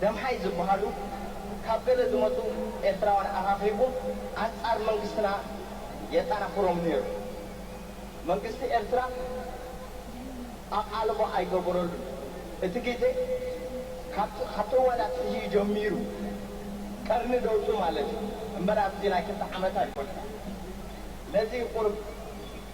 ደምሓይ ዝብሃሉ ካብ ገለ ዝመጹ ኤርትራውያን ኣኻኺቡ ኣንጻር መንግስትና የጣናኽሮም ነይሩ። መንግስቲ ኤርትራ ኣቓልቦ ኣይገበረሉን። እቲ ግዜ ካብቲ ካብቲ እዋን ኣትሒዙ'ዩ ጀሚሩ፣ ቀርኒ ደውጹ ማለት'ዩ፣ እምበር ኣብዚ ናይ ክልተ ዓመት ኣይኮነን። ነዚ ቁሩብ።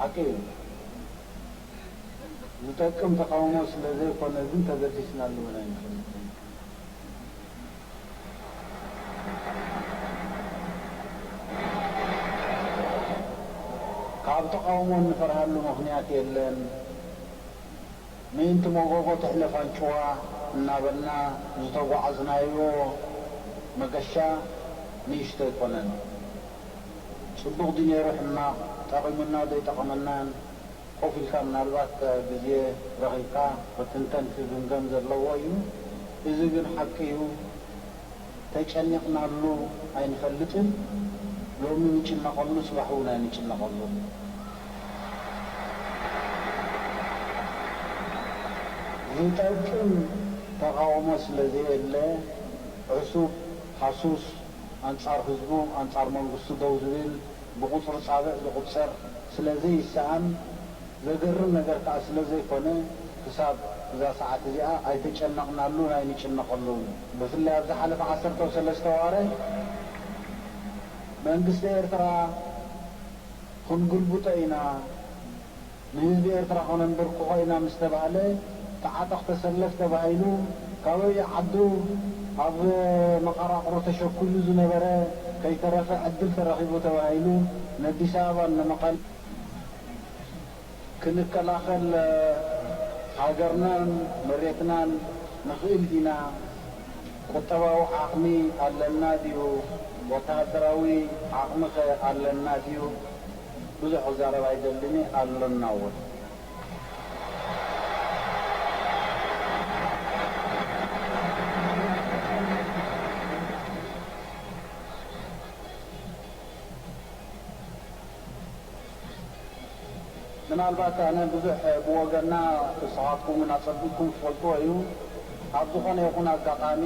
ሓቂ እዩ ዝጠቅም ተቃውሞ ስለ ዘይኮነ ግን ተገዲስናሉ ውን ኣይንፈልጥን። ካብ ተቃውሞ እንፈርሃሉ ምኽንያት የለን። ምእንቲ ሞጎጎ ትሕለፍ ኣንጭዋ እናበልና ዝተጓዓዝናዮ መገሻ ንእሽቶ ኣይኮነን። ጽቡቅ ድዩ ነይሩ ሕማቅ ጠቂሙና ዘይጠቀመናን ኮፍ ኢልካ ምናልባት ግዜ ረኪብካ ክትንተን ክግምገም ዘለዎ እዩ እዚ ግን ሓቂ እዩ ተጨኒቅናሉ ኣይንፈልጥን ሎሚ ንጭነቀሉ ጽባሕ ውን ኣይንጭነቀሉን ዝጠቅም ተቃውሞ ስለ ዘየለ ዕሱብ ሃሱስ ኣንጻር ህዝቡ ኣንጻር መንግስቱ ደው ዝብል ብቁጽሪ ጻብዕ ዝቁጸር ስለ ዘይሰኣን ዘገርም ነገር ከኣ ስለ ዘይኮነ ክሳብ እዛ ሰዓት እዚኣ ኣይተጨነቅናሉን ኣይንጭነቀሉን ብፍላይ ኣብ ዝሓለፈ ዓሰርተው ሰለስተ ዋረ መንግስቲ ኤርትራ ክንግልብጦ ኢና ንህዝቢ ኤርትራ ከነንበርክኾ ኢና ምስ ተባህለ ተዓጠቕ ተሰለፍ ተባሂሉ ካበዩ ዓዱ ኣብ መቐራቕሩ ተሸኲሉ ዝነበረ ከይተረፈ ዕድል ተረኺቡ ተባሂሉ ነዲስ ኣበባን ንመቐለን ክንከላኸል ሃገርናን መሬትናን ንኽእል ኢና? ቁጠባዊ ዓቕሚ ኣለና ድዩ? ወተሃደራዊ ዓቕሚኸ ኣለና ድዩ? ብዙሕ ክዛረብ ኣይደልን እየ ኣሎና እውን። ምናልባት ኣነ ብዙሕ ብወገና ንስኻትኩም እውን ኣጸቢቅኩም ትፈልጥዎ እዩ ኣብ ዝኾነ ይኹን ኣጋጣሚ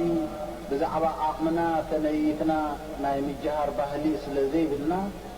ብዛዕባ ዓቕምና ተነይትና ናይ ምጅሃር ባህሊ ስለ ዘይብልና